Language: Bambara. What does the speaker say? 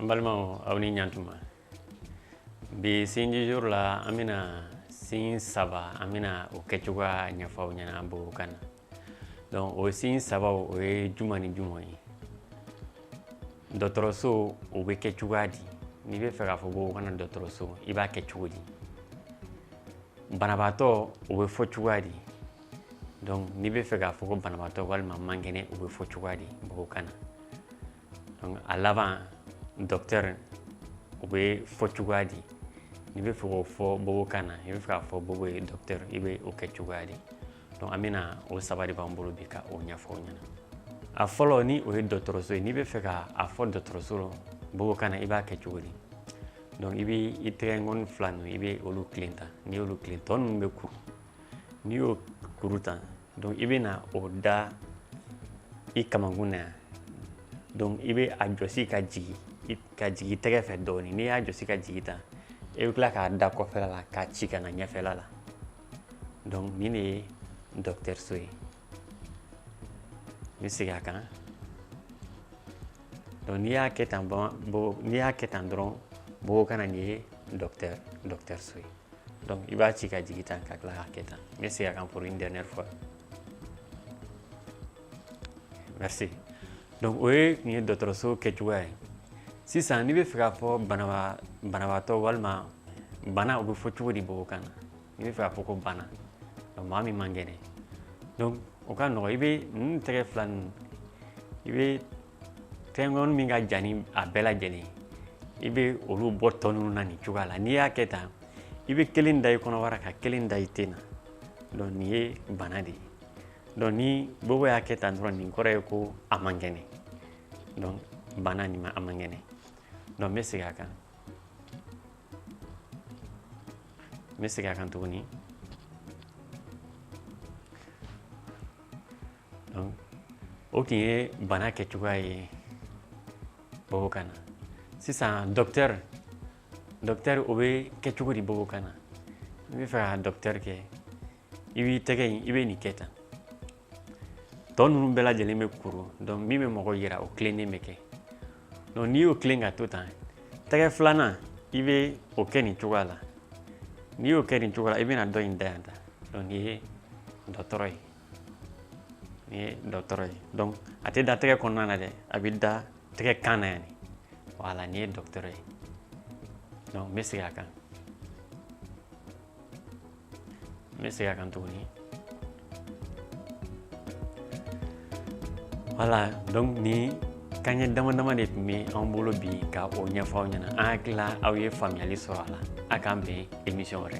an balimaw aw ni ɲantuma bi signe jour la an bɛna signe saba an bɛna o kɛcogoya ɲɛfɔ aw ɲɛna bobo kan na donc o signe saba o ye juma ni juma ye dɔgɔtɔrɔso o bɛ kɛ cogoya di n'i bɛ fɛ k'a fɔ bobo kan na dɔgɔtɔrɔso i b'a kɛ cogo di banabaatɔ o bɛ fɔ cogoya di donc n'i bɛ fɛ k'a fɔ ko banabaatɔ walima man kɛnɛ o bɛ fɔ cogoya di bobo kan na A laban docteur o bɛ fɔ cogoya di n'i bɛ fɛ k'o fɔ bobo kan na n'i bɛ fɛ k'a fɔ bobo ye docteur i bɛ o kɛ cogoya di an bɛna o saba de b'an bolo bi ka o ɲɛfɔ aw ɲɛna a fɔlɔ ni o ye dɔgɔtɔrɔso ye n'i bɛ fɛ k' a fɔ dɔgɔtɔrɔso bobo kan na i b'a kɛ cogo di donc i bɛ i tɛgɛkɔni fila ninnu i bɛ olu tilen tan n'i y'olu tilen tɔ ninnu bɛ kuru n'i y'o kuru tan donc i bɛ na o da i kamankun na yan donc i bɛ a jɔsi ka jigin tɛgɛ fɛ dɔɔnin n'i y'a jɔsi ka jigin tan i bɛ tila k'a da kɔfɛla la k'a ci ka na ɲɛfɛla la donc nin de ye docteur so ye n bɛ segin a kan donc n'i y'a kɛ tan n'i y'a kɛ tan dɔrɔn bobo kan na nin ye docteur so ye donc i b'a ci ka jigin tan ka tila k'a kɛ tan n bɛ segin a kan pour une dernière fois merci donc o ye tun ye dɔgɔtɔrɔso kɛcogoya ye sisan n'i bɛ fɛ k'a fɔ banabaatɔ walima bana o bɛ fɔ cogo di bobo kan na n'i bɛ fɛ k'a fɔ ko bana donc maa min man kɛnɛ donc o ka nɔgɔ i bɛ i tɛgɛ fila ninnu i bɛ tɛgɛkɔni min ka jan ni a bɛɛ lajɛlen i bɛ olu bɔ tɔ ninnu na nin cogoya la n'i y'a kɛ tan i bɛ kelen da i kɔnɔbara ka kelen da i ten na donc nin ye bana de ye donc ni bobo y'a kɛ tan dɔrɔn nin kɔrɔ ye ko a man kɛnɛ donc bana nin maa man kɛnɛ donc n bɛ segin a kan n bɛ segin a kan tuguni o tun ye bana kɛcogoya ye bobo kan na sisan docteur docteur o bɛ kɛ cogo di bobo kan na n'i bɛ fɛ ka docteur kɛ i b'i tɛgɛ in i bɛ nin kɛ tan tɔ ninnu bɛɛ lajɛlen bɛ kuru donc min bɛ mɔgɔ jira o tilennen bɛ kɛ donc n'i y'o tilen ka to tan tɛgɛ filanan i bɛ o kɛ nin cogoya la n'i y'o kɛ nin cogoya la i bɛna dɔ in da yan tan donc nin ye dɔtɔrɔ ye nin ye dɔgɔtɔrɔ ye donc a tɛ da tɛgɛ kɔnɔna na dɛ a bɛ da tɛgɛkan na yan de voilà nin ye dɔgɔtɔrɔ ye donc n bɛ segin a kan n bɛ segin a kan tuguni voilà donc nin kanɲɛ dama dama de tun bɛ an bolo bi ka o ɲɛfɔ aw ɲɛna an hakilila aw ye faamuyali sɔrɔ a la a k'an bɛn emisiyɔn wɛrɛ